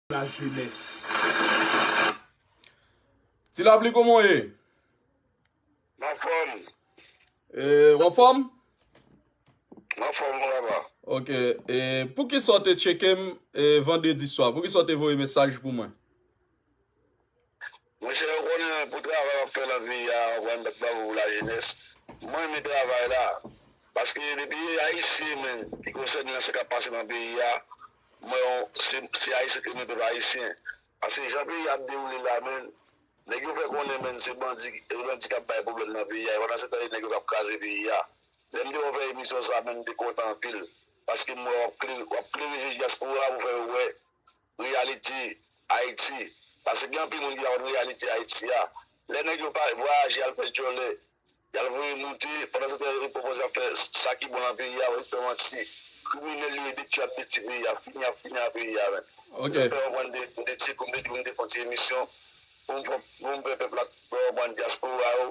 la jeunesse. Ti lapli koman ye? Mwen fòm. E, ou an fòm? Mwen fòm mwen laba. Ok, e pou ki sa ou te tcheke m e vandredi swa? Pou ki sa ou te voye mesaj pou mwen? Mesye yo konnen pou travay wap fè nan peyi a wap rann bat bravo pou la jenès mwen renmen travay la paske depi e ayisyen menm ki konsène nan sa kap pase nan peyi a m wè yon se ayisyen ki renmen pèp ayisyen paske jan peyi a ap dewoule la menn nèg yo fè konnen menn se bandi e bandi kap bay problèm nan peyi a pandan se tan e nèg yo kap kraze peyi a lè m te wè wap fè emisyon sa menn m te kontan anpil paske m wè wap klere je dyaspora pou fè yo wè Reyalite Ayiti Pase gen anpil moun ki pa konn reyalite Ayiti a Lè nèg yo pa vwayaje al fè djòlè y al voye moute pandansetan Erik pwopoze ap fè sa ki bon lan peyi a Erik fè manti Kriminèl yo e detui ap detui peyi a Fini ap fini a peyi a menm Se sa k fè w konprann de m te di pou m te di pou m te fè yon ti emisyon pou m fè pou m fè pèp la fè w konprann dyaspora yo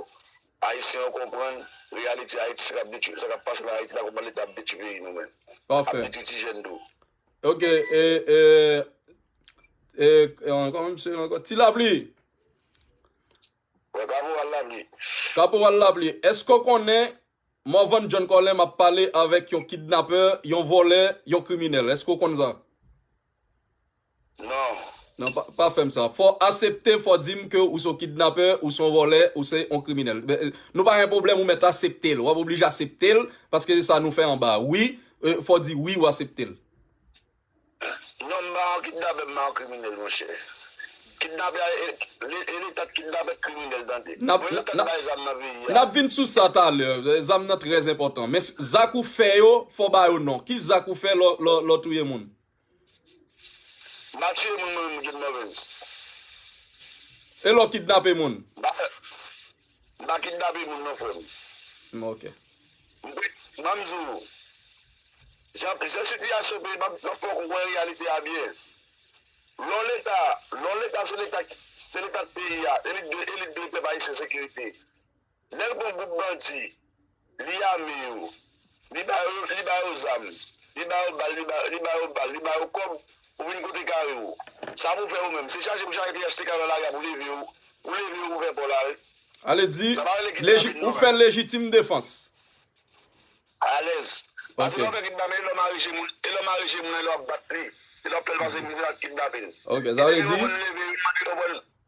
Ayisyen yo konprann reyalite Ayiti sa k ap detui sa k ap pase lan Ayiti la konprann leta ap detui peyi nou menm Pafè Ap detui ti jèn tou Ok, e, e, e, an, kòman msye rele ankò? Ti Lapli! Wè, Kaporal Lapli. Kaporal Lapli, èske ou konnen Morvan John Colem ap pale avèk yon kidnapè, yon vòlè, yon kriminèl? Èske ou konn sa? Non. Non pa fèm sa. Fò asepte fò dim ke ou son kidnapè, ou son vòlè, ou se yon kriminèl. Nou pa gen pwoblèm ou mèt aseptel. Wap oblije aseptel paske se sa nou fè anba a. Wi, fò di wi ou aseptel. Non m pa yon kidnapè, m pa yon kriminèl monchè. Kidnapè a e leta k kidnapè k kriminèl tande. Mwen leta k bay zam nan peyi a. Nap vin sou sa talè. Zam nan trèzenpòtan. Men zak ou fè yo fò ba yo non. Ki zak ou fè lò touye moun? Mpa tuye moun mwen menm Good Morens. Elo kidnape moun. Mpa fè Mpa kidnape moun non frem. M ok. Banm di w Jan Jan sitiyasyon peyi map map fè w konprann reyalite a byen lè w leta lè w leta se leta se leta k peyi a elit dwe elit dwe pèp ayisyen sekirite. Nel gon group bandi li ame yo li ba yo zam li ba yo bal li ba yo bal li ba yo kob ou vin kote kare ou sa pou fè ou menm se chaje pou chaje phtk nan lari a pou leve yo pou leve yo pou fè paw la wi. Ale di ou fè lejitim defans. Alèz. Pase lè w fè kidnape e lè w mare je moun e lè w mare je moun nan e lè w ap bat li e lè w ap fè l pase mizè ak kidnape l. Ok sa vle di.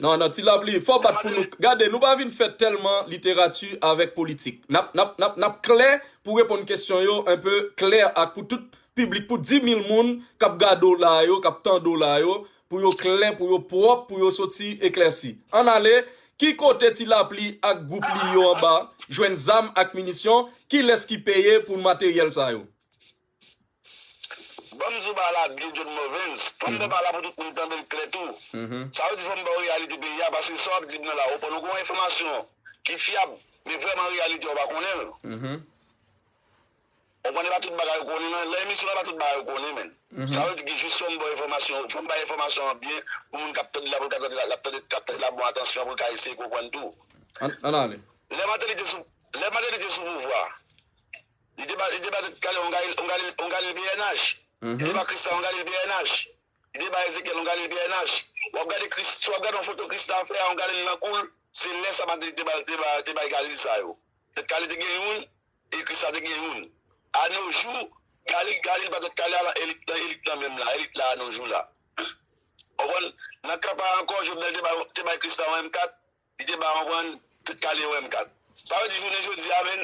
Nan nan ti lapli fò bat pou nou gade nou pa vin fè tèlman literati avèk politik nap nap nap nap klè pou reponn kesyon yo un peu klè ak pou tout piblik pou 10000 moun kap gade w la a yo kap tande w la a yo pou yo klè pou yo pwòp pou yo soti eklèsi ann ale ki kote ti lapli ak gwoup li yo anba jwenn zam ak minisyon kilès ki peye pou materyèl sa yo. Banm di w ba la byen John Morvens, fòm ba ba la pou tout moun tande l klè tou. Sa vle di fòm ba w reyalite peyi a paske sa w ap di m nan la ou pann ou gen yon enfòmasyon ki fyab men vrèman reyalite a ou pa konnen l. Ou konprann e pa tout bagay ou konnen nan lan emisyon lan e pa tout bagay ou konnen menn. Sa vle di gen jis fòm ba w enfòmasyon fòm bay enfòmasyon an byen pou moun k ap tande la pou l ka tande l ap tande l ap tande l a bon atansyon pou l ka eseye konprann tou. Ann ale. Lè Mateli te sou pouvwa. Li te bay Danyèl yon galil bnh. Li te bay Krisla yon galil bnh. Li te bay Ezekyèl yon galil bnh. Si w ap gade yon foto Krisla fè yon galil nan kou l, se lè sa Mateli te bay galil sa yo. Tèt kale te gen youn e Krisla te gen youn. Anojou, galil pa tèt kale a lan elit lan menm la, elit la anojou la. Ou konprann? Nan kan pa a ankò, Jovenel te bay Krisla yon M4, Li te bay konprann tout kale yon M4. Sa vle di jounen jodi a menn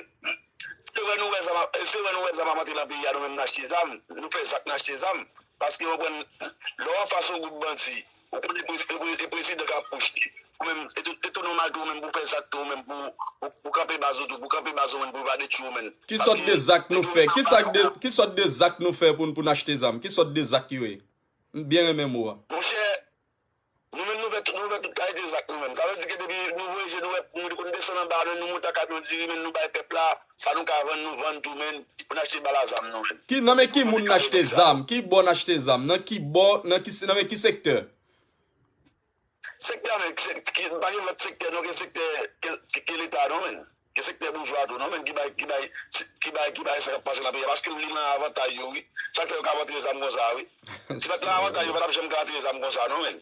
se wè nou wè zam ap se wè nou wè zam ap antre nan peyi a nou menm n achte zam nou fè zak n achte zam paske ou konprann lè w anfas yon gwoup bandi ou konnen prezi e prezidan k apwoche ou menm e tou e tou nòmal tou ou menm pou w fè zak tou ou menm pou w pou w kanpe baz ou tou pou w kanpe baz ou menn pou yo pa detwi w menn Ki sòt de zak nou fè ki sa k de ki sòt de zak nou fè pou n pou n achte zam ki sòt de zak yo ye m byen renmen mo a. Monchè Nou menm nou vè nou vè tout kalite zak nou menm. Sa vle di ke depi nou voye je nou wè nou konn desann anba men nou monte akamyon diri men nou bay pèp la sa nou ka vann nou vann tou men pou n achte bal a zam nou menm. Ki nan men ki moun n achte zam? Ki bò n achte zam? Nan ki bò nan ki nan men ki sektè? Sektè anmè ki se ki pa gen lòt sektè non ke sektè ke leta non menn. Gen sektè boujwa a tou non menm ki bay ki bay ki bay ki bay sa kap pase nan peyi a paske li nan avantay yo wi sa k fè yo ka vantre zam konsa a wi si pat nan avantay yo yo pa tap janm ka vantre zam konsa non menn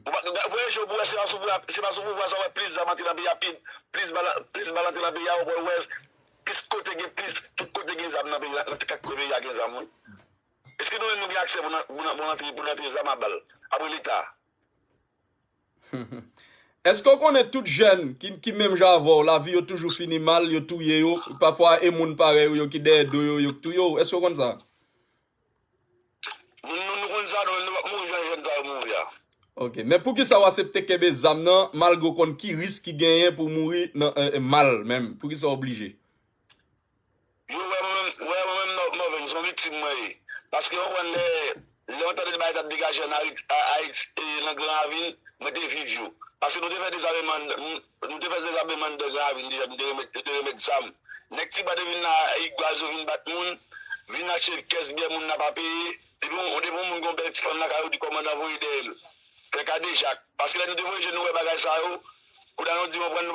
ou pa gad voye je w pou wè se pa sou se pa sou pouvwa sa w wè plis zam antre nan peyi a pi plis bal plis bal antre nan peyi a ou pa wè plis kote gen plis tout kote gen zam nan peyi a nan kat kwen peyi a gen zam wi eske nou menm nou gen aksè pou nan pou nan pou nan antre pou nan antre zam a bal apre leta. Eske ou konnen tout jèn ki menm jan avè w lavi yo toujou fini mal yo touye yo pafwa e moun parèy ou yo ki dèyè do yo yo k touye w eske ou konn sa. Nou konn sa nou menm nou pap mouri jan jèn sa yo mouri a. Ok men poukisa ou asepte kenbe zam nan malgre ou konn ki risk ki genyen pou w mouri nan mal menm poukisa ou oblije. Yo wè mwen menm mwen menm son viktim mwen ye paske yo konn lè yon tande de bagay kap degaje an ayiti nan gran ravin mwen te viv yo paske nou te fè dezameman nou te fè dezameman nan gran ravin deja nou te remèt zam nèg tiba te vin nan ayik baz yo vin bat moun vin achte kès byè moun nan pa peye depi yon moun gen yon bèl ti fanm lakay yo di kòmandan voye dèyèl Pè kadejak. Paske lè nou te voye je nou wè bagay sa yo, kouda nou di mwen pran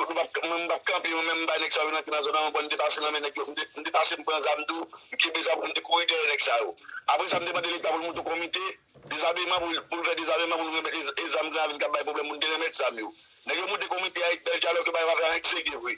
mwen m pap kanpe mwen menm m bay nèg sa yo vin antre nan zòn an bon m te pase nan men nèg yo m te pase m pran zam tou m kenbe zam m te kouri dèyè nèg sa yo. Apre sa m te mande leta pou l moute yon komite dezameman pou l fè dezameman pou nou remèt e zam granravin kap bay pwoblèm pou nou te remèt zam yo. Nèg yo moute komite a ek bèl dyalòg yo pa yo pa fè anyen ki serye vre.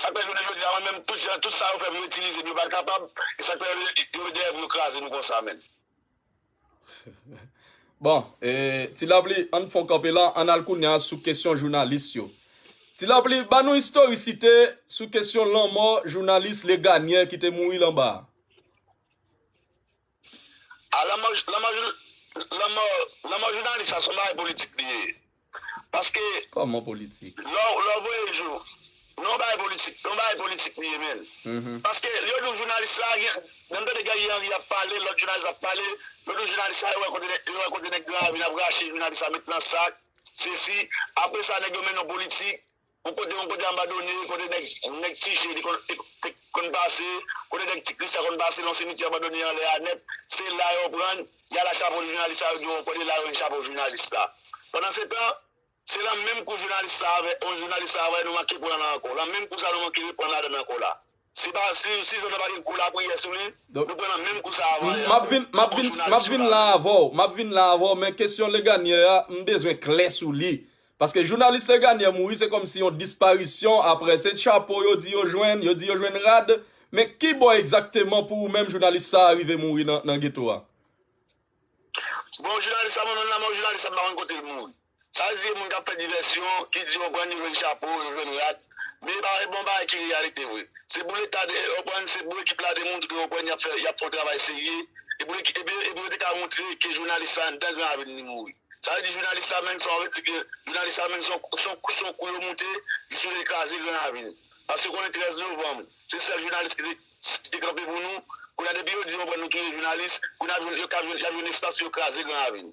Sak fè jounen jodi a mwen menm tout jan tout sa yo fè pou yo itilize m yo pa kapab e sak fè yo yo dèyè pou yo kraze nou konsa menn. Bon e ti lapli ann fon kanpe la ann al kounya sou kesyon jounalis yo ti lapli ba nou istorisite sou kesyon lanmò jounalis Leganyè ki te mouri lan ba a. A la man la man la man la man jounalis sa son bagay politik li ye paske Kòman politik? lè w lè w voye l jou nan yon bagay politik nan yon bagay politik li ye menn paske yo di w jounalis sa gen lè m tande Guerrier Henry ap pale lòt jounalis ap pale yo di w jounalis sa yo wè kote yo wè kote nèg gran ravin ap rache jounalis sa met nan sak sesi apresa nèg yo mennen w politik Yon kote yon kote anbadone kote nèg nèg ti je te konn te konn pase kote nèg ti kris la konn pase yon simityè anbadone anlè a nèt se la yo prann y a la chapo jounalis sa yo di w ankò de la yo jwenn chapo jounalis la pandansetan se lan menm kou jounalis sa a avè yon jounalis sa a avè nou manke pran la ankò lan menm kou sa nou manke reprann ladann ankò la. Si pa si si zòn nan pa gen gwo lapriyè sou li, nou pran nan menm kou sa avan yè. Map vin map vin map vin la avèw map vin la avèw men kesyon Leganyè a m bezwen klè sou li paske jounalis Leganyè mouri se kòmsi yon disparisyon aprè se chapo yo di yo jwenn yo di yo jwenn rad men kibò egzakteman pou ou menm jounalis sa a rive mouri nan nan geto a. Bon jounalis sa mwen menm la men jounalis sa m pa konn kote l mouri. Sa l di e moun k ap fè divèsyon, ki di yo prann yo jwenn chapo, yo jwenn rad. Men e pa e bon bagay ki reyalite vre. Se pou leta de e prann, se pou ekip la demontre ke yo prann y ap fè y ap fè yon travay serye e pou e pou e pou yo te ka montre ke jounalis sa anndan gran avni li mouri. Sa vle di jounalis sa menm sa w vle di ke jounalis sa menm se yon se yon se yon kou yo moute jis yo vle kraze gran avni l. Paske konnen 13 novanm se sèl jounalis ki te ki te kanpe pou nou, kounye a depi yo di yo prann nou touye jounalis, kounye a yo ka jwenn y ap jwenn espas pou yo kraze gran avni l.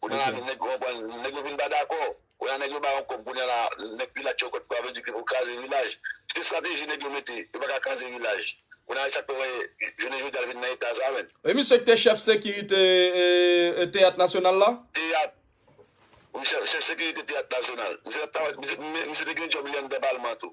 Kounya la nèg yo konprann, nèg yo vin pa dakò. Kounya nèg yo ba yon kòb kounya la nèg vila tchè yo kòb sa vle di ke pou kraze vilaj. Se estrateji nèg yo mete, yo pa ka kraze vilaj. Kounya la e sa k fè wè jounen jodi a l vin nan eta sa menm. E misye k te chèf sekirite teyat nasyonal la? Teyat. Wi chèf sekirite teyat nasyonal. Misye t ap travay, misye te gen djòb li anndan palman tou.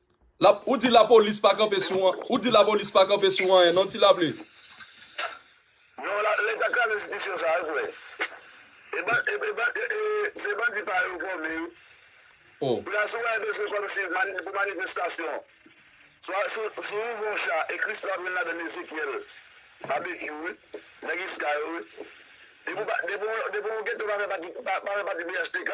Ou di la polis pa kanpe sou an, ou di la polis pa kanpe sou anyen non ti laple. Non la leta kraze enstitisyon sa yo frè. E ban e e ban e e se bandi pa yo fòme yo. Oh. Koulya si w wè bezwen kòm si mani pou manifestasyon swa si w si w ouvè yon cha e Christo ap jwenn ladan l Ezekyèl, Babekyou wi, nèg iska yo wi. Depi w pa depi w depi w geto pa fè pati pa fè pati phtk.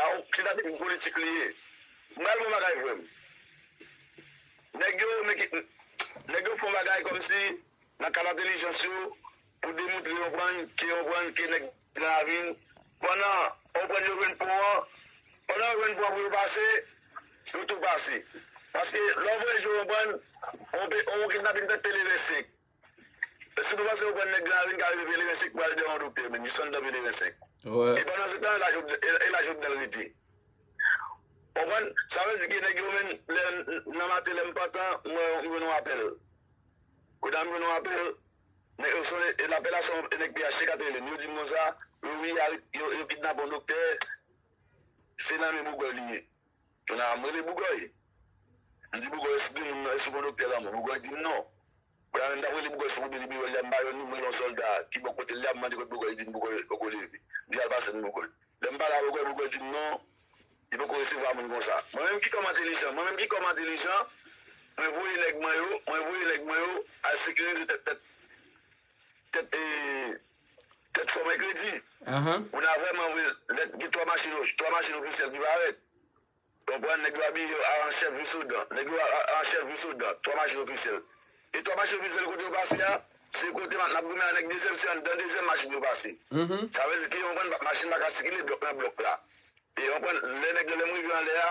Aw kidnaping politik li ye. Bal bon bagay frè m. Nèg yo mete nèg yo fon bagay kòmsi nan kad entelijans yo pou demoutre yon prann ke yon prann ke nèg nan ravin pandan yon prann yo jwenn pon an pandan yo jwenn pon an pou yo pase yo tou pase paske lè w voye jwe yon prann yon kidnaping fèt pele vè sek. Si nou panse nou konn nèg la vin kare de pelerin sèk pral de yon doktè menn jis anndan pelerin sèk e pandan se tan e la Jovenel rete ou konprann sa vle di ke nèg yo menn lè nan maten lèm pantan m wè m jwenn yon apèl kounye a m jwenn yon apèl nèg yo sone e lapèl la se yon nèg pnh kap rele m yo dim konsa yo wi yo kidnape yon doktè se nan men Bougoy li ye. Kounye a, m rele Bougòy. M di Bougòy, èske moun nan, èske ou konn doktè lanmò? Bougòy di m non. Kounye a menm, m t ap rele Bougòy sou kote li biwo l la, m ba yon nimewo yon sòlda ki bò kote l la, m mande kote Bougòy ye, li di m Bougòy poko leve. M di al pase m Bougòy. Lè m pale a Bougòy, Bougòy di m non, li poko resevwa moun konsa. Mwen menm ki kòm entelijan, mwen menm ki kòm entelijan, mwen voye nèg mwen yo, mwen voye nèg mwen yo al sekirize tèt tèt. Tèt e Tèt fò mèkredi moun a vrèman wi lè gen 3 machin 3 machin ofisyèl ki parèt ou konprann nèg yo abiye yo a an chèf vis ou dan nèg yo a an chèf vis ou dan 3 machin ofisyèl e 3 machin ofisyèl kote yo pase a se kote map nap goumen a nèg dezyèm se anndan dezyèm machin yo pase sa vle di ke ou konprann machin paka sikile blòk nan blòk la e ou konprann lè nèg yo lèm rive anlè a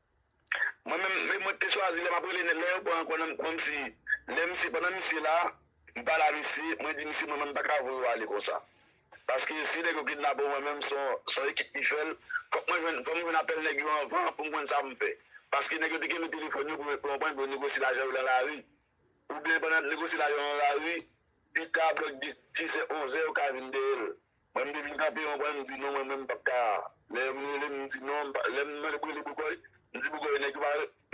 Mwen menm mwen te chwazi lè map rele nèg lè yo pran kò nan kòmsi lè misye pandan misye la m pale a misye mwen di misye mwen menm m paka voye w ale konsa paske si nèg yo kidnape w mwen menm son ekip ki fè l fòk mwen jwenn fòm jwenn apèl nèg yo anvan pou m konn sa pou m fè paske nèg yo te kenbe telefòn yo pou yo konprann pou yo negosye lajan yo lan lari oubyen pandan yap negosye lajan yo lan lari pita blòk dizè onzè yo ka vin dèyè l. Mwen m te vin kanpe yon kwen m di non mwen menm m pap ka lè yo vin rele m m di non lè m mande pou rele Bougoy m di Bougoy nèg yo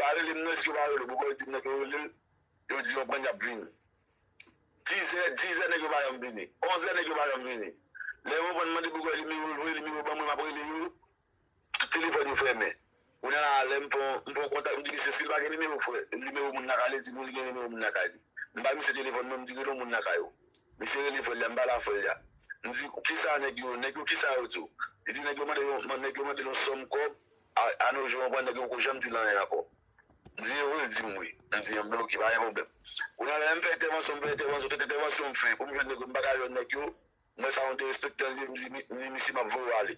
pa rele m non eske yo pa rele w Bougoy di m nèg yo rele l yo di yon kwen yap vini dizè dizè nèg yo pa janm vini onzè nèg yo pa janm vini lè yo konprann m mande Bougoy nimewo l vre nimewo ban mwen map rele yo Tout telefòn yo fèmen. Kounye a la, lè m fè yon kontak, m di misye si l pa gen nimewo frè, nimewo moun lakay li, l di m wi li gen nimewo moun lakay li. M bay misye telefòn mwen, m di rele yon moun lakay ou. Misye rele frè l la, m pale ak frè l la. M di, ki sa nèg yo, nèg yo ki sa yo di w? Li di nèg yo mande yon, nèg yo mande l yon sòm kòb, a no jou an pran nèg yo poko janm di l anyen ankò. M di e vre? L di m wi. M di an ben oke, pa gen pwoblèm. Kounye a la, lè m fè entèvansyon, m fè entèvansyon, tout entèvansyon m fè pou m jwenn nèg yo, m pa ka jwenn nèg yo. M wè sa yon derespektan liye, m di misye m ap voye w ale.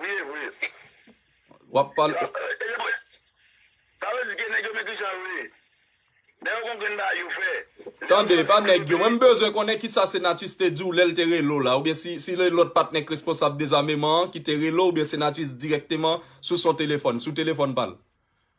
Wi evre. Wap pale. Sa vle di ke neg yo men kijan yo ye. Neg yo kon grenn bagay yo fè. Tande, epa neg yo. Mwen m bezwen konnen kisa Senatus te diw lel te rele w la. Oubyen si se lot patnè k responsab dezameman an ki te rele w oubyen Senatus direkteman sou son telefòn, sou telefòn pa l.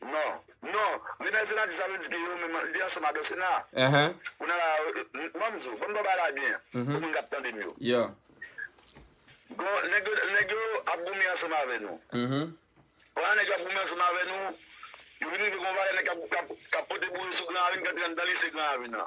Non Non Li nan sena disa nou di ke yo menm li ansanm ak yo sena Kounye la banm di w banm di w bagay la byen pou moun kap tande m yo Gon nèg yo nèg yo ap goumen ansanm avè nou Pandan nèg yo ap goumen ansanm avè nou yo vin rive gon valè nèg kap kap pote boure sou gran avin kap pran nan lise gran avin nan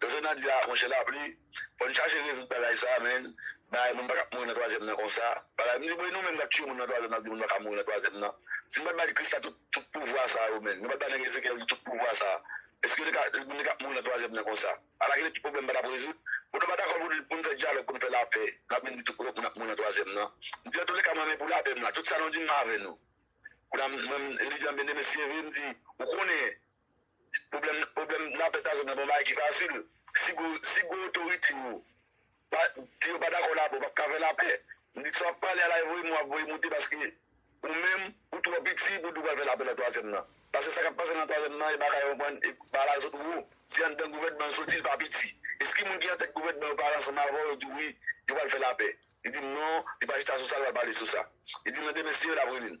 Doktè Nandy ah monchè lapli fòn chache rezoud bagay sa menn bagay moun pakab mouri nan twazyèm nan konsa bagay mdi bon e nou menm nap tiye moun nan twazyèm nap di moun paka mouri nan twazyèm nan si nou pat bay Christa tout pouvwa sa yo menn nou pat bay nèg Ezekyèl yo tout pouvwa sa eske yo teka moun teka mouri nan twazyèm nan konsa ala kilè tout pwoblèm patap rezoud bon nou pa dakò poun fè dyalòg poun fè lapè nap vin di tout moun ap mouri nan twazyèm nan mdi antoulèka mwen men pou lapè m la tout sa nou dim m avè nou kounam mwen Elidian Bndye mesi vre mdi ou konnen Pwoblèm pwoblèm nan pèt azot nan pa yon bagay ki fasil. Si gwo si gwo otorite yo pa di yo pa dakò lapè ou pap ka fè lapè. Ni sa w ap pale a la e voye mo a ap voye moute paske ou menm ou twò piti pou w di w pral fè lapè nan twazyèm nan. Pase sa k ap pase nan twazyèm nan e bagay yo pran e bagay sot wo. Se anndan gouvènman l soti l pa piti. Eske moun ki antèt gouvènman yo pale ansanm avè w yo di w wi yo pral fè lapè. Li di m non li pa chita sou sa li pa pale sou sa. Li di m nan demen se yo l ap rele l.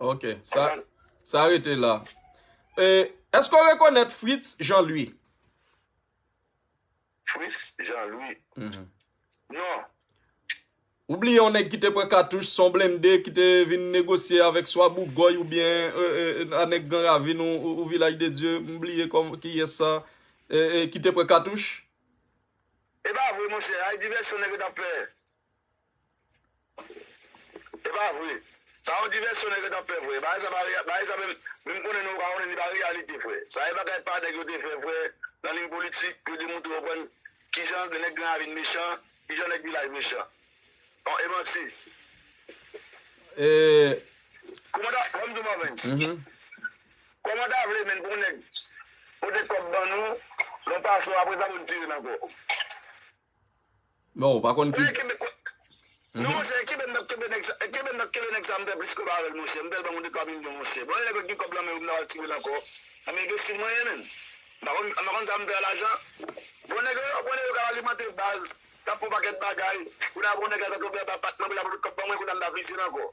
Ok, sa rete la. Eske ou rekonèt Fritz Jean-Louis? Fritz Jean-Louis? Mm-hmm. Non. Ou bliye yon nèg ki te pran katouch son blende ki te vin negosye avèk swa Bougòy ou byen euh, euh, euh, anèk Gran Ravin ou Vilaj de Dye, m bliye kòm ki yè sa, ki te pran katouch? E ba vre monchè, ay divèsyon nèg yo t ap fè. Epa vre Sa yon divèsyon nèg yo tap fè frè bagay sa pa reyal bagay sa menm menm konnen nou yo ka konnen li pa reyalite frè sa e bagay pa nèg yo te fè frè nan liy politik pou yo te moutre yo konn kijan nèg gran ravin mechan kijan nèg vilaj mechan on e manti kouman ta fèm di w Marvens kouman ta vle menn pou yon nèg pote kòb ban nou yon pasò apresa pou n tire n ankò. Non ou pa konn ki. Non monchè kenbe nap kenbe nèg sa kenbe nap kenbe nèg sa m fè plis kob avèl monchè m fèl banm yon de twa milyon monchè bon lè nèg la t gen kob lan menw m ta pral tirel ankò nan enbesil mwen ye menm m pa konn m pa konn sa m fè a lajan bon nèg yo bon nèg yo kap alimante baz kap fon pakèt bagay kounye a bon nèg la ta tonbe anba pak mwen pou l ap voye kob ban mwen kounye a m ta frizil ankò.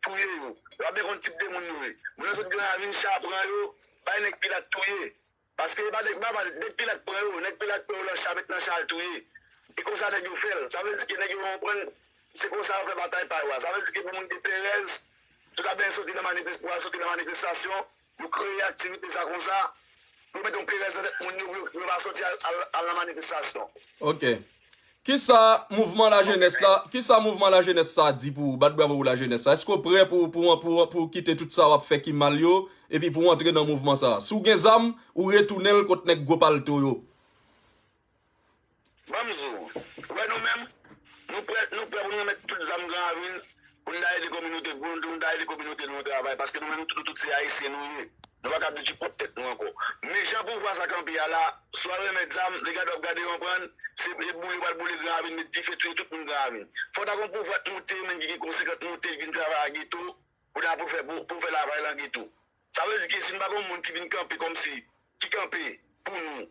Touye yo. Yo ap dekonn tip de moun yo ye. Moun nan sot gran ravin cha pran yo bay nèg pilat touye. Paske e pa nèg baba nèg pilat pran yo nèg pilat pran yo lan cha met nan cha al touye. E konsa nèg yo fèl. Sa vle di ke nèg yo konprann se konsa yo fè batay pa yo a. Sa vle di ke pou moun gen perèz tout ap benyen soti lan manifes pou al soti lan manifestasyon Yo kreye aktivite sa konsa pou yo mete yon perèz nan tèt moun yo pou yo pa sòti al nan manifestasyon. Ok. Kisa mouvman lajenès la, kisa mouvman lajenès sa di pou ou? Bat bravo pou lajenès sa. Eske ou prè pou ou kite tout sa w ap fè ki mal yo epi pou ou antre nan mouvman sa? Si w gen zam, ou retounen l kot nèg gwo palto yo. Banm di w, ou wè nou menm, nou prè nou prè pou nou remèt tout zam gran avil pou nou ta ede kominote pou nou ta ede kominote nou an travay paske nou menm nou tout se ayisyen nou ye nou pa ka viv di pwòp tèt nou ankò men jan pouvwa sa kanpe a la swa remèt zam li gade wap gade yon bann se e boule yo pral boule gran avil met dife touye tout moun gran avil fò ta gon pouvwa t moute menm ki gen konse kan t moute li vin travay a geto pou ta pou fè pou fè lavay lan geto sa vle di ke si nou pa gon moun ki vin kanpe kòmsi ki kanpe pou nou.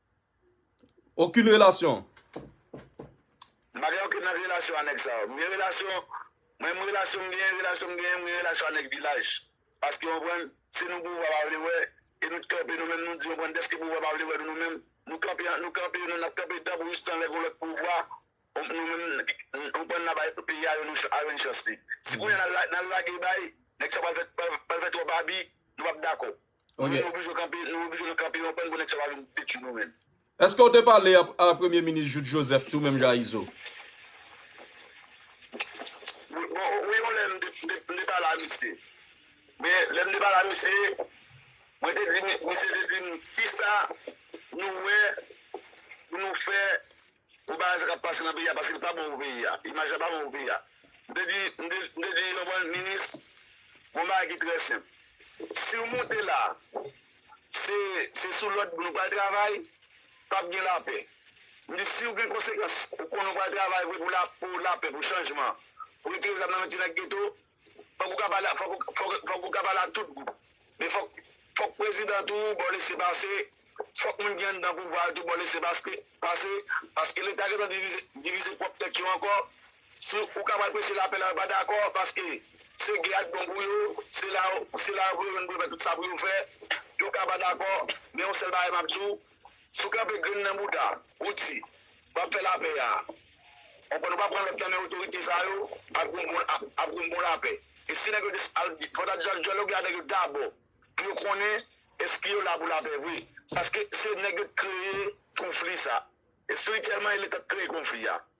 Okin relasyon. M pa gen okin lòt relasyon a nèg sa yo. M gen relasyon, mwen m relasyon m genyen, relasyon m genyen, m gen relasyon a nèg vilaj. Paske ou konprann, se nou pouvwa pa vle wè, e nou t kanpe nou menm nou di ou konprann dèske pouvwa pa vle wè nou nou menm, nou kanpe ant nou kanpe nou nap kanpe danp jistan lè gon lòt pouvwa nou menm ou konprann na bay peyi a yon a yon chans li. Si kounya nal nal lage bay, nèg sa pral fè pral fè twòp abi, nou pap dakò. Ou menm oblije kanpe, nou oblije nou kanpe yon kwen pou nèg sa pa vin detui nou menm. Eske ou te pale a premye minis Jude Joseph tou menm jan a Izo? Bon wi yon lè m te pale a misye. Men lè m te pale a misye, mwen te di misye te di m kisa nou wè pou nou fè. Bon bagay sa kap pase nan peyi a paske li pa bon pou peyi a imaj la pa bon pou peyi a m te di m te di yon bon minis yon bagay ki trè senp siw moute la se se sou lòd pou nou pral travay pap gen lapè m di siw gen konsekans ou konnen ou pral travay vre pou la pou lapè pou chanjman pou retire zam nan men ti nèg geto. Fòk ou ka pale ak fòk ou ka pale ak tout gwoup men fòk fòk prezidan tou ba w lese pase fòk moun ki anndan pouvwa yo tou ba w lese paske pase paske leta gentan divize divize pwòp tèt yo ankò si ou ka pral preche lapè la yo pa dakò paske se gè a k bon pou yo se la se la yo pou yo jwenn pou yo fè tout sa pou yo fè yo ka pa dakò men yon sèl bagay m ap di w Si w kanpe grenn nan bouda ou di wap fè lapè a onkò nou pa pran lòd nan men otorite sa yo ap gen yon bon lapè e si nèg yo te al fòk ta al dyaloge avèk yo dabò pou yo konnen èske yo la pou lapè vre paske se nèg yo t kreye konfli sa espirityèlman e leta t kreye konfli a.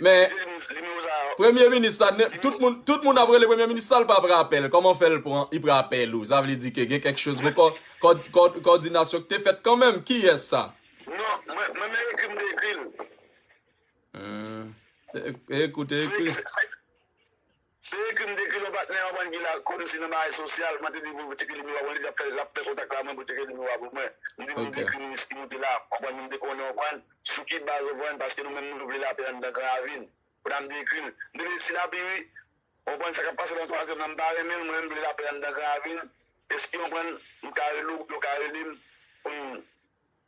Men, premye minis la, tout moun ap rele premye minis la, li pa pran apèl, kòman fè l pran, li pran apèl ou, sa vle di ke gen kèk chòz, kòdinasyon ki te fèt kanmèm, ki yè sa? Non, mwen men ekri m te ekri l. Hum, te ekri w te ekri l. Se ekri m te ekri lò patnè an bann ki la kòmsi nan bagay sosyal mwen te di pou teke limi wa wèl lap lap fè kontak la mwen pou teke limi wa pou mwen m di pou li dekri minis ki moute la konprann m te konnen w konprann sou ki baz w konprann paske nou menm nou vle lapè anndan gran avil konn m te ekri l m te vle si lapi wi w konprann sa kap pase nan twazyèm nan m pa renmen l mwen m vle lapè anndan gran avil eskew konprann m ka rele w ou ka rele m pou n.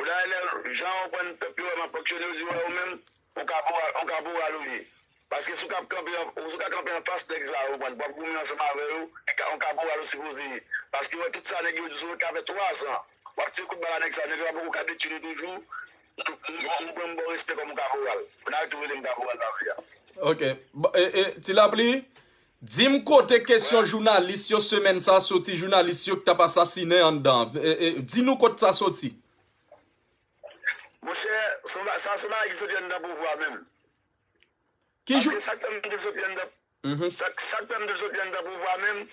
Ou dayè lè jan ou konprann pèp yo wè map fonksyone yo di yo wè ou menm ou kaporal ou kaporal ou ye paske si ou ka kanpe si ou ka kanpe anfas nèg sa yo ou konprann wap goumen ansanm avè yo ou kaporal ou sipoze ye paske ou wè tout sa nèg yo di sou ou sa fè 3 zan wap tire kout bala nèg sa yo nèg yo pa poko ka detwi nou toujou ou pranm baw respè kòm ou kaporal ou nan tou relem kaporal nan vi a. Ok ti lapli Dim kote kesyon jounalis yo semèn sa soti jounalis yo ki tap asasinen anndan di nou kot sa soti. Monchè sa son bagay ki soti anndan pouvwa menm. Paske sak fèm di l soti anndan pouvwa menm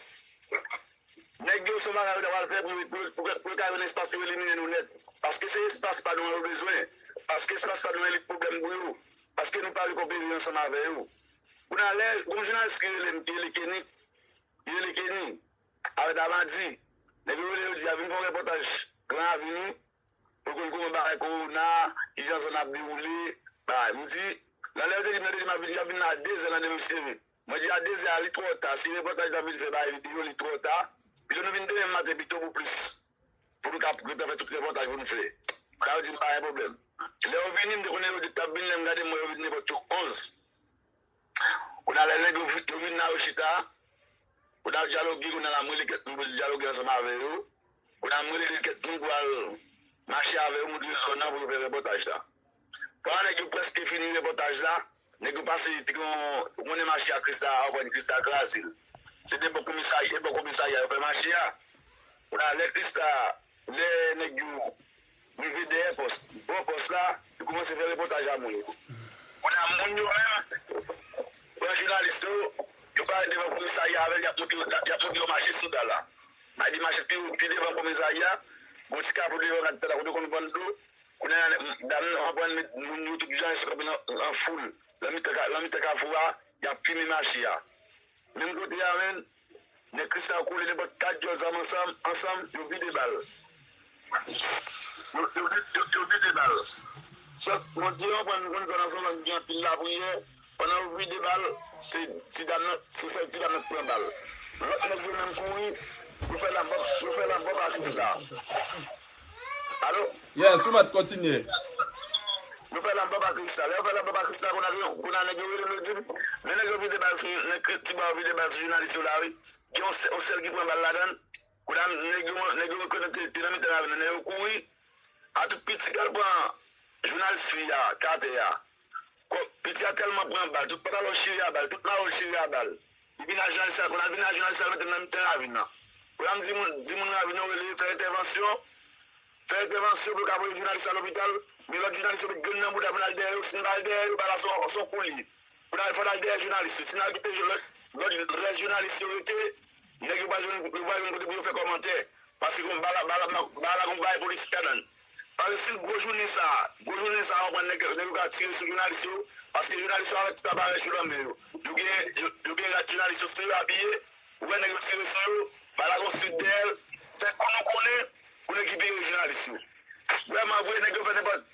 Nèg yo se bagay yo ta pral fè pou yo ka jwenn espas yo elimine nou nèt paske se espas pa nou an yo bezwen paske espas pa nou an li pwoblèm pou yo paske nou pa vle konperi ansanm avè yo kounye a lè gon jounalis ki rele m ki rele Kenny ki rele Kenny avè Damadi nèg yo rele yo di a vin fè yon repòtaj gran avini pou konn kouman bagay kowona kijan zòn nan ap dewoule bagay m di nan lè yo te di m nan te di m ap vin y ap vin nan a dezè nan demen m sere. Mwen di a dezè a li twò ta si repòtaj la vin fè bay video li twò ta pito nou vin demen maten pito pou plis pou nou ka gentan fè tout repòtaj pou nou fè ka yo dim pa gen pwoblèm lè yo vini m te konnen yo di tap vini lè m gade m wè yo vin nenpòt yo 11 kounya lè nèg yo vin la yo chita kounya yo dyaloge kounya la m rele kèt moun pou nou dyaloge ansanm avè yo kounya m rele kèt moun pou al mache avè yo moutre yo zòn nan pou yo fè repòtaj sa. Papa nèg yo preske fini repotaj la nèg yo pase t gon ou konnen mache a krista a anprann krista a krazel se te bò komisarya e bò komisarya yo fè mache a kounye lè krista lè nèg yo rive dèyè pòs bò pòs la yo koumanse fè repotaj a moun yo kounye a moun yo menm pran jounalis yo yo pare devan komisarya avèl yap monte yo yap monte yo mache soda la bay li mache pi devan komisarya gon ti kafou devan ak tè la kote yo konn vann dlo Kounye a, dam nan reprann met moun yo tout jan, yo sot kanpe nan foul, nan mitan kafou a, y ap fimen mache a. Menm kote a menm, nèg Kristan yo kole nenpòt kat dyòl zam ansanm, yo vide bal. Yo vide bal. Jès, Bondye reprann nou konn zòn an se yon zòn ki gen anpil lapriyè. Pandan yo vide ba l, se ti dam nan, se sèl ti dam nan ki pran bal. Lòt nèg yo menm kouri, yo fè lanbòb, yo fè lanbòb ak Rita. Alo? Yes, ou mèt kontinye. Yo fè lanbòb ak Rita. Lè yo fè lanbòb ak Rita, konn a nèg yo rele m yo di m, men nèg yo vide bal sou, nèg Christie ba yo vide bal sou jounalis yo la wi. Gen yon sèl ki pran bal ladan l. Kounye a nèg yo nèg yo rekonèt ke li te nan mitan ravin nan nèg yo kouri a tout piti pral pran jounal fi a k atè a kòm piti a tèlman pran bal tout pantalon l chire a bal tout mayo l chire a bal li vin ak jounalis la kounye a l vin ak jounalis la l mete l nan mitan ravin nan kounye a m di moun di moun ravin nan yo rele fè entèvansyon fè entèvansyon pou yo ka voye jounalis la lopital men lòt jounalis yo met grenn nan bouda pou n al dèyè yo si n pa al dèyè yo bal la se yon kou l ye. Pral fè laj dèyè jounalis yo si nal kite lòt rès jounalis yo rete nèg yo pral jwenn yo pral jwenn kote pou yo fè kòmantè paske gon bala bala bala gon bagay politik ladann paske si gwo jounen sa gwo jounen sa an pran nèg yo ka tire sou jounalis yo paske jounalis yo avèk tout aparèy yo nan men yo yo gen yo gen rad jounalis yo sou yo abiye ou wè nèg yo tire sou yo bala gon sik dèyè l fè kou nou konnen konnen ki veye jounalis yo vrèman vre nèg yo fè nenpòt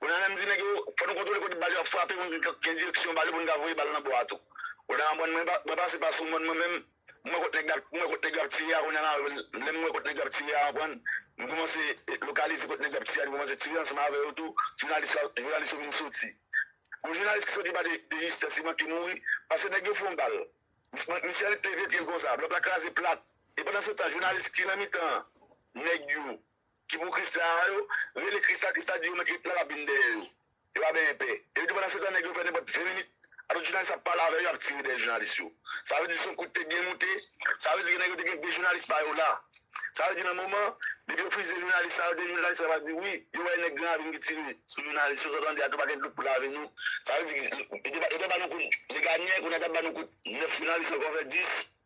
Odanyan menm di nèg yo, fò nou kontwole kote bal yo ap frape pou nou ka gen direksyon bal yo pou nou ka voye bal nan bò a tou. Odanyan mòn mwen, mwen pase pa sou mòn mwen menm, m wè kot nèg la, m wè kot nèg yo ap tire a kounya la, lè m wè kot nèg yo ap tire a konprann, m koumanse lokalize kot nèg yo ap tire a, nou koumanse tire ansanm avè yo tou, jounalis la, jounalis yo vin soti. Gon jounalis ki soti pa de de jistès li manke mouri pase nèg yo fon bal, misye al kleve pye l konsa, blòk la kraze plat e pandan se tan jounalis ki nan mitan nèg yo Ki pou krisla a yo rele krisla krisla di yo met ret la lap vin dèyè yo yo pa benyen pè epi depi pandan setan nèg yo fè nenpòt 20 minit alòt jounalis ap pale avè yo ap tire dèyè jounalis yo sa vle di son kout te byen moute sa vle di ke nèg yo te gen 2 jounalis pa yo la sa vle di nan moman depi yo fizye jounalis sa yo 2 jounalis sa va di wi yo wè nèg gran avin ki tire sou jounalis yo sa w tande a tou pa gen dlo pou lave nou sa vle di yo te ba nou kout Legagne kounye a ta ba nou kout 9 jounalis ankò fè 10.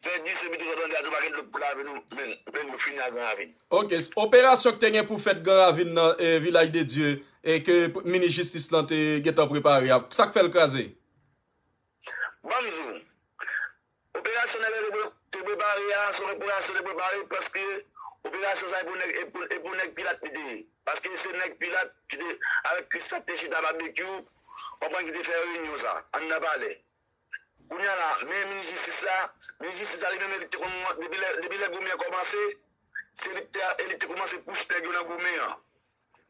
Fè di se pito sa bandi a tou pa gen dlo pou lave nou menn menn nou fini ak gran ravin. Ok, operasyon ki te gen pou fèt gran ravin nan vilaj de Dye e ke minis jistis lan te gentan prepare a sak fèl kraze? Banm di w, operasyon nèg la te prepare a se yon operasyon te prepare paske operasyon sa e pou nèg pilat li te ye paske se nèg pilat ki te avèk kris la ki te chita babekyou konprann ki te fè reyinyon sa anndan palè Kounya la men minis jistis la, minis jistis la li menm li te konn depi lè goumen kòmanse se li te e li te koumanse pouch nèg yo nan goumen an.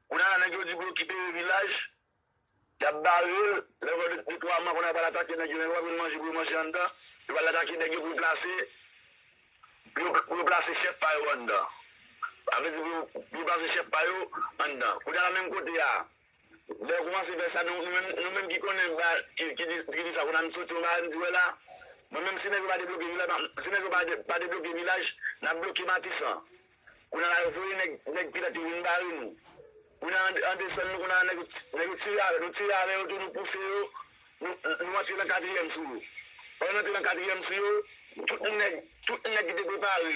Kounya la nèg yo di pou yo kite vilaj, yap barel, lè yo fè 2 3 mwa kounya yo pral atake nèg yo men yo pap jwenn manje pou yo manje anndan, yo pral atake nèg yo pou yo plase pou yo plase chèf pa yo anndan. Sa vle di pou yo plase chèf pa yo anndan. Kounya la menm kote a Lè yo koumanse fè sa nou menm nou menm ki konnen ba ki ki di ki di sa konn soti yon bagay m di wè la mwen menm si nèg yo pa debloke vilaj pa si nèg yo pa pa debloke vilaj nap bloke matisan kounye la yo voye nèg nèg pilat yo vin bare nou kounye la an desann nou kounye la nèg nèg yo tire avè nou tire avè yo tou nou pouse yo nou nou antre nan katriyèm sou yo pandan n antre nan katriyèm sou yo tout nèg tout nèg ki te prepare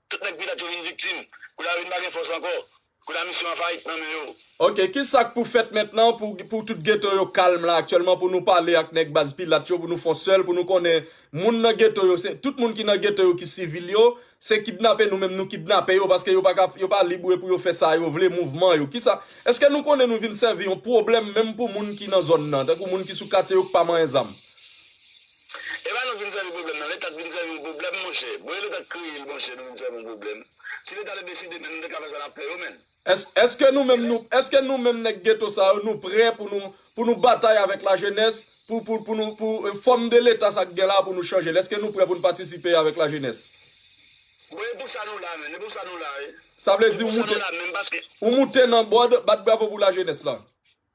Tout nèg vilaj yo vin viktim. Kou la yo vin pa gen fòs ankò. Kou la misyon an fayit nan men yo. Ok kisa k pou fèt mentnan pou pou tout geto yo kalm la aktyèlman pou nou pale ak nèg baz pilat yo pou nou fon sèl pou nou konnen moun nan geto yo se tout moun ki nan geto yo ki sivil yo se kidnape nou menm nou kidnape yo paske yo pa ka yo pa lib pou yo fè sa yo vle mouvman yo kisa eske nou konnen nou vin sèvi yon pwoblèm menm pou moun ki nan zòn nan tankou moun ki sou katye yo k pa manyen zam. Epa nou vin sèvi pwoblèm nan leta t vin sèvi yon pwoblèm monchè bon e leta t kreye l monchè nou vin sèvi yon pwoblèm si leta te deside menm nou te ka fè sa nap fè yo menn. Eske nou menm nou eske nou menm nèg geto sa yo nou prè pou nou pou nou batay avèk lajenès pou pou pou nou pou fòm de leta sa k gen la pou nou chanje l eske nou prè pou nou patisipe avèk lajenès. Bon e pou sa nou la menn e pou sa nou la e. Sa vle di ou moute ou moute nan bòd bat bravo pou lajenès la.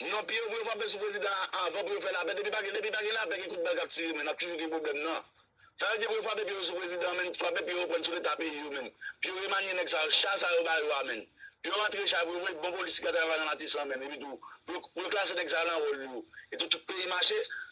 Non pye yo pou yo frape sou prezidan an avan pou yo fè lapè depi pa gen depi pa gen lapè gen kout bal kap tire men nap toujou gen pwoblèm nan sa vle di pou yo frape pye yo sou prezidan an menn frape pye yo prann sou leta peyi yo menn pou yo remanye nèg sa yo cha sa yo ba yo a menn pou yo rantre cha pou yo voye bon polis ki ka travay la nan matisan menm epitou pou yo klase nèg sa yo nan wòl yo epi tout peyi mache.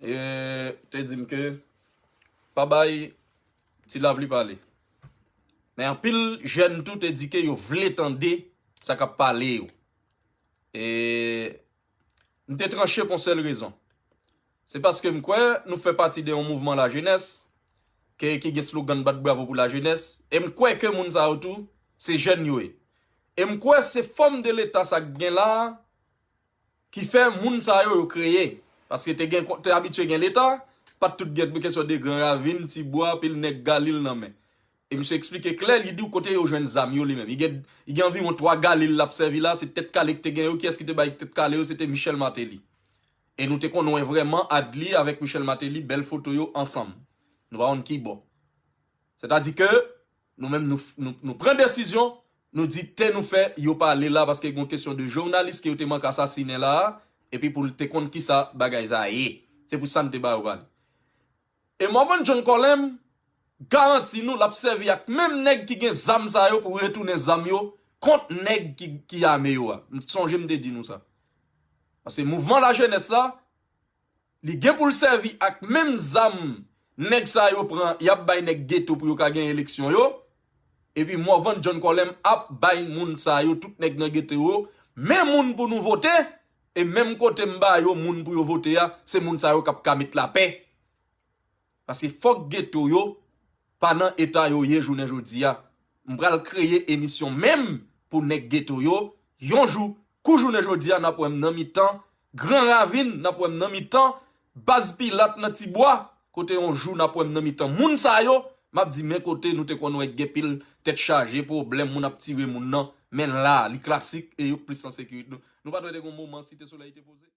E te di m ke pa bay Ti Lapli pale. Men anpil jèn tou te di ke yo vle tande sa k ap pale yo. E m te tranche pou yon sèl rezon. Se paske m kwè nou fè pati de yon mouvman lajenès ke ki gen slogan Bat Bravo pou Lajenès. E m kwè ke moun sa yo tou se jèn yo ye. E m kwè se fòm de leta sa k gen la a. Ki fè moun sa yo yo kreye. Paske te gen, te abitye gen leta, pa t tout gen pou kesyon de gran ravin, ti bwa, pil nèg Galil nan men. E misye eksplike klè, li di w kote yo jwenn zam yo li menm. Li gen, li gen anviwon 3 Galil l ap sèvi la, se tèt kale ki te gen yo, kiyès ki te bay tèt kale yo, se te Michel Martelly. E nou te konn wè vrèman Adly avèk Michel Martelly bèl foto yo ansanm. Nou pa konn ki bò. Sètadi ke. Nou menm nou pran desizyon, nou di te nou fè yo pale la paske gon kesyon de jounalis ke yo te mank asasinen la a epi pou l te konn kisa bagay sa ye. Se pou sa n te ba yo pale. E Morvan John Colem garanti nou l ap sèvi ak menm nèg ki gen zam sa yo pou retounen zam yo kont nèg ki ame yo a. M sonje m te di nou sa. Paske mouvman lajenès la, Li gen pou l sèvi ak menm zam nèg sa yo pran y ap bay nèg geto pou yo ka gen eleksyon yo. Epi Morvan John Colem ap bay moun sa yo tout nèg nan geto yo men moun pou nou vote e menm kote m ba yo moun pou yo vote a se moun sa yo k ap ka met lapè. Paske fòk geto yo pa nan eta yo ye jounen jodi a. M pral kreye emisyon menm pou nèg geto yo, yon jou, kou jounen jodi a n ap wè m nan mitan Gran Ravin, n ap wè m nan mitan Baz Pilat nan Ti Bwa, kote yon jou n ap wè m nan mitan moun sa yo, m ap di men kote nou te konn wè gen pil tèt chaje, pwoblèm, moun ap tire moun nan, men la a, li klasik e yo plis an sekirite. Nou pa t wè te gen yon moman Site Solèy te poze?